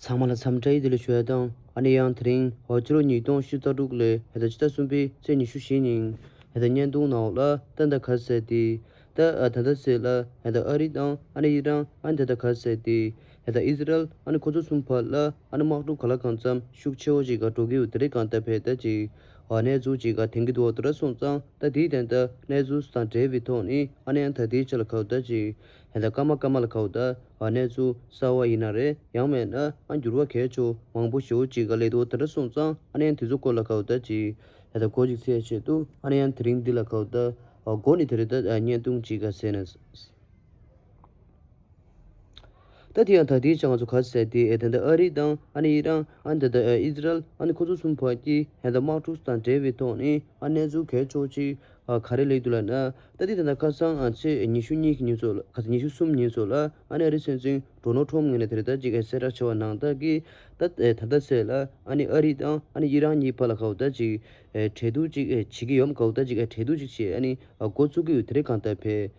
ཚང་མ་ལ་འཚམས་འདྲི་ཞུ་བ་དང་ཨ་ནེ་ཡང་དེ་རིང་ཧོར་ཕྱི་ལོ་ཉིས་སྟོང་ཕྱི་ཟླ་དྲུག་ལོའི་ཕྱི་ཟླ་གསུམ་པའི་ཚེས་ཉི་ཤུ་བཞི་ཉིན་ད་ལྟ་བརྙན་ཐུང་ནང་ལ་ཏན་ཏཱ་ག་ཟེར་ཏེ་ད་ད་ད་ཟེར་ལ་ད་ད་ཨ་རི་དང་ཨ་ནེ་ཡི་རང་ཨ་ནེ་ད་ད་ག་ཟེར་ཏེ་ད་ད་ཨིས་ར་ཨེལ་ཨ་ནེ་ཁོ་ཚོ་གསུམ་བར་ལ་ཨ་ནེ་དམག་གྲུ་ག་ལ་གང་འཚམས་ཤུགས་ཆེ་བོ་ཞིག་ག་འགྲོ་གི་འདུག་དེ་རིང་གང་ལྟར་བས་ད་ཅིག་བ་གནས་ཚུལ་གཅིག་ག་དེང་གི་འོག་ཏུ་ར་སོང་ཙང་ད་དེའི་དན་ད་གནས་ཚུལ་སུ་དང་འབྲེལ་བའི་ཐོག་ནས་ཨ་ནེ་ཨ་མཐའ་དེའི་ཆ་ལ་ཁའུ་ད་ཅིག་ཧན་ད་སྐར་མ་སྐར་མ་ལ་ཁའུ་ད་བ་གནས་ཚུལ་གསར་བ་ཡིན་ན་རེ་ཡང་མེད་ན་ཨ་འགྱུར་བ་གས་ཆོ་མང་པོ་ཞོ་གཅིག་ག་ལས་འོག་ཏུ་ར་སོང་ཙང་ཨ་ནེ་ཨ་མཐའི་ཚུལ་སྐོར་ལ་ཁའུ་ད་ཅིག་ཧན་ད་གོ་ཅིག་ཚེ་ཆེད་དུ་ཨ་ནེ་ཨ་མཐའི་རིང་འདི་ལ་ཁའུ་ད་བ་སྒོ་ནས་དེ་རེ་ད་བརྙན་ཐུང་གཅིག་ག་ཟེར་ན། ད་དེ་ཡང་ད་ལྟའི་ཆར་ང་ཚོ་ག་ཚོད་བསད་དེ་དེ་འདྲ་ཨ་རི་དང་ཨ་ནི་ཨི་རང་ཨ་ནི་ད་ལྟ་ཨིས་རལ་ཨ་ནི་ཁོ་ཚོ་གསུམ་བར་གྱི་ཧེ་ད་དམག་འཁྲུག་དང་འབྲེལ་བའི་ཐོག་ནས་ཨ་གནས་ཚུལ་གལ་ཆོག་ཅིག་ག་རེ་ལེགས་འདུག་ལབ་ན། ད་ལྟའི་ད་ལྟ་ཁ་སང་ཚེས་ཉི་ཤུ་གཉིས་ཀྱི་ཉིན་ཚོ་ལ་ག་ཚོད་ཉི་ཤུ་གསུམ་ཉིན་ཚོ་ལ་ཨ་ནི་ཨ་རི་སྲིད་འཛིན་འགྲོ་ནོ་ཁྲོམ་ངོས་ནས་དེ་ལྟར་ཅིག་གསལ་བསྒྲགས་བྱས་བ་ནང་བདག་གིས་ད་ད་ལྟ་ཚེས་ལ་ཨ་ནི་ཨ་རི་དང་ཨ་ནི་ཨི་རང་གཉིས་བར་ལ་ག་འུ་ད་ཅིག་འབྲེལ་གཏུག་ཅིག་བྱེད་ཀྱི་ཡོད་མ་ག་འུ་ད་ཅིག་འབྲེལ་གཏུག་ཅིག་བྱེད་ཨ་ནི་འགོ་བཙུགས་ཀྱི་ཡོད་དེ་རེད་གང་ལྟར་བལ།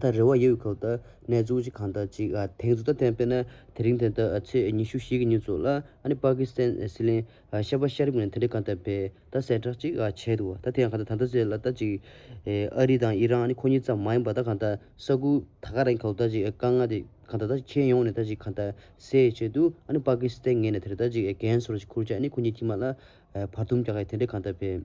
ད་རེ་བ་ཡོད་ཁོག་ད་ནས་བཙུགས་ཅིག་གང་ད་ཅིག་དེང་ཚོད་ད་ཐེངས་པེ་ན་དེ་རིང་དེ་ད་ཚེས་ཉི་ཤུ་བཞི་གི་ཉིན་བཙུགས་ལ་ཨ་ནི་པ་ཀི་སི་ཐན་སི་ལིང་ཤ་པ་ཤ་རི་མོ་ནས་དེ་འདྲས་གང་ད་བེ་ད་གསལ་བསྒྲགས་ཅིག་བྱས་འདུག་བ་ད་དེ་ཡང་གང་ད་ད་ད་ཚེས་ལ་ད་ཅིག་ཨ་རི་དང་ཨི་རང་ཨ་ནི་ཁོ་གཉིས་ཙམ་མ་ཡིན་པ་ད་གང་ད་ས་ཁུལ་ད་ག་རང་གི་ཁོག་ད་ཅིག་དཀའ་ངལ་དེ་གང་ད་ད་ཅིག་ཁྱེར་ཡོང་ནས་ད་ཅིག་གང་ད་སེ་བྱས་འདུག་ཨ་ནི་པ་ཀི་སི་ཐན་ངས་ནས་དེ་རེ་ད་ཅིག་གན་སོར་ཅིག་ཁུར་ཅིག་ཨ་ནི་ཁོ་གཉིས་ཁྱི་མ་ལ་བར་འཐུམ་རྒྱག་ག་ཡི་དེ་འདྲས་གང་ད་བེ།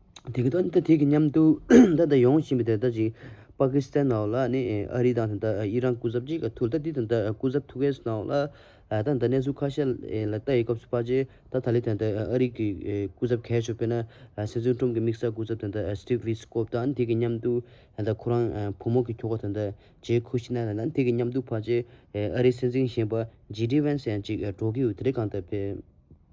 དེ་གི་ཏོ་དེ་གི་མཉམ་དུ་ད་ད་ཡོང་བཞིན་པའི་དེ་ད་ཅིག་པ་ཀི་སི་ཐན་ནང་ལ་ནི་ཨ་རི་དང་དེ་ད་ཨི་རན་སྐུ་ཚབ་ཅིག་ག་ཐུག་ད་དེ་དང་ད་སྐུ་ཚབ་ཐུག་གས་སོ་ནང་ལ་ད་ད་གནས་ཚུལ་ཁ་ཤས་ལ་ལྟ་ཡི་སྐབས་སུ་པ་ཅི་ད་ད་ལི་ཐན་ད་ཨ་རི་གི་སྐུ་ཚབ་གས་བྱུག་པས་ན་སི་ཚུན་ཀྲུམ་གི་དམིགས་བསལ་སྐུ་ཚབ་དེ་ད་སི་ཏིབ་བྷི་སི་ཀོབ་དང་དེ་གི་མཉམ་དུ་དེ་ད་ཁོ་རང་བུ་མོ་གི་ཁྱོ་ག་དེ་ད་ཇེ་ཁུ་ཤི་ན་ལ་ན་དེ་གི་མཉམ་དུ་པ་ཅི་ཨ་རི་སྲིད་འཛིན་གཞན་པ་ཇེ་ཏི་བྷན་སི་ཡང་ཅིག་འགྲོ་གི་ཡོད་དེ་རེད་གང་ལྟར་བས།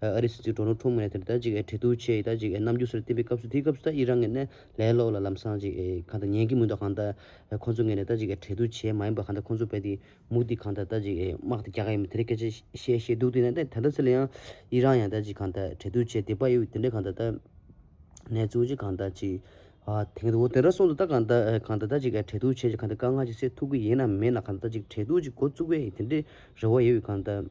ཨ་རིའི་སྲིད་འཛིན་ཏྲོ་ནོ་ཁྲོམ་ངས་དེར་ད་ཅིག་ཨེ་ཁྲེ་ཏུའུ་ཆེ་ཡིས་ད་ཅིག་ཨེ་ནམ་རྒྱུན་སོར་བསྟན་པའི་སྐབས་སུ་དེའི་སྐབས་སུ་ད་ཨི་རང་ངས་ནས་ལའི་ལོགས་ལ་ལམ་སང་ཅིག་ཨེ་གང་ད་ཉན་གི་མུན་ད་གང་ད་ཁོ་ཚོ་ངས་ནས་ད་ཅིག་ཨེ་ཁྲེ་ཏུའུ་ཆེ་མ་ཡིན་པ་གང་ད་ཁོ་ཚོ་བས་དེའི་མུག་དེ་གང་ད་ད་ཅིག་ཨེ་དམག་དེ་རྒྱག་ག་ཡིན་པ་དེ་འདྲའི་སྐད་ཆ་བཤད་བཤད་འདུག་དེ་ནས་ད་དེ་འདྲ་ཚེ་ལ་ཡང་ཨི་རང་ཡང་ད་ཅིག་གང་ད་ཨེ་ཁྲེ་ཏུའུ་ཆེ་དེ་པ་ཡིས་དེ་འདྲའི་གང་ད་ད་ནས་ཚུགས་ཅིག་གང་ད་ཅིག་ཨ་དེ་འདྲ་འོ་དེ་འདྲ་སོང་ད་ད་གང་ད་ཨེ་གང་ད་ད་ཅིག་ཨེ་ཁྲེ་ཏུའུ་ཆེ་ཅིག་གང་ད་དཀའ་ངལ་ཅིག་སེལ་ཐུབ་གི་ཡིན་ནམ་མིན་ན་གང་ད་ད་ཅིག་ཁྲེ་ཏུའུ་ཅིག་འགོ་བཙུགས་པའི་ཡིན་དེ་འདྲའི་རེ་བ་ཡོད་ཡོད་གང་ད།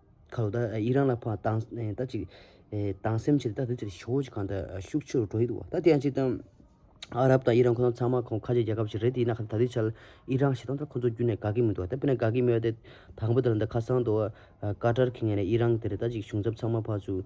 ཁ་ལོ་ད་ཡིད་རང་ལ་ཕངས་དང་ད་ཅིག། དང་སེམས་ཆེ་ད་དེ་ཚོར་ཞོག་ཅིག་གང་ད་ཤུགས་ཆེ་རུ་འགྲོ་ཡི་འདུག་བ་ད་དེ་ཡང་ཅིག་དང། ཨ་རབ་དང་ཡི་རང་ཁོ་ཚང་ཚང་མ་ཁོང་ཁ་ཆེ་རྒྱལ་ཁབ་ཞིག་རེད་དེ་ཡིན་ན་ཁ་ད་དུས་ཆལ་ཡི་རང་ཞེ་སྡང་ད་ཁོ་ཚོ་རྒྱུད་ནས་དགའ་གི་མི་འདུག་བ་ད་དཔེར་ན་དགའ་གི་མི་འོ་དེ། དང་པོ་དེ་ལ་འདི་ཁ་སང་དུ། ཀ་ཏར་གི་ངས་ནས་ཡི་རང་དེ་རེད་ད་ཅིག་གཞུང་ཚབ་ཚང་མ་ཕར་ཚུར།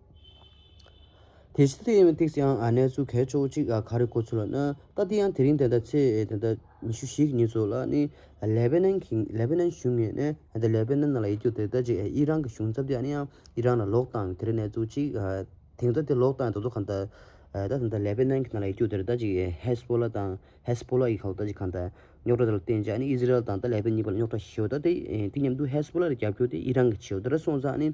དེ་བཞིན་དུ་ཨེ་མའི་སྟེགས་སུའང་གནས་ཚུལ་གལ་ཆེ་བོ་གཅིག་ག་རེ་གོ་ཚུལ་ལ་ནི། ད་དེ་ཡང་དེ་རིང་དེ་ཟླ་ཚེས་དེ་ཟླ་ཉི་ཤུ་ཞིག་ཉིན་སོགས་ལ་ནི། ལེ་བྷེ་ནན་གྱི་ལེ་བྷེ་ནན་གཞུང་ངེས་ནས་དེ་ལེ་བྷེ་ནན་ནང་ལ་ཡིད་སྐྱོ་དེ་ལྟ་ཅི་ཨི་རང་གི་གཞུང་ཚབ་དེ་ཨ་ནི་ཡང་ཨི་རང་ལ་ལོག་བཏང་དེར་གནས་ཚུལ་གཅིག་དེང་སང་དེ་ལོག་བཏང་དེ་ཚོ་གང་ལྟ། ད་དེ་ལེ་བྷེ་ནན་གྱི་ནང་ལ་ཡིད་སྐྱོ་དེར་ལྟ་ཅི་ཧེ་སྤོ་ལ་དང་ཧེ་སྤོ་ལ་ཡི་ཁ་ལ་ལྟ་ཅི་གང་ལྟ། རྙོག་གྲ་དེ་ལ་བརྟེན་ཅི་ཨ་ནི་ཨི་ཟི་རལ་དང་ལེ་བྷེ་གཉིས་པ་ལ་རྙོག་གྲ་ཞི་བ་ལྟ་དེ་དེ་མཉམ་དུ་ཧེ་སྤོ་ལ་ལ་རྒྱབ་སྐྱོར་དེ་ཨི་རང་གི་བྱེད་དེ་ར་སོང་ཙང་ཨ་ནི།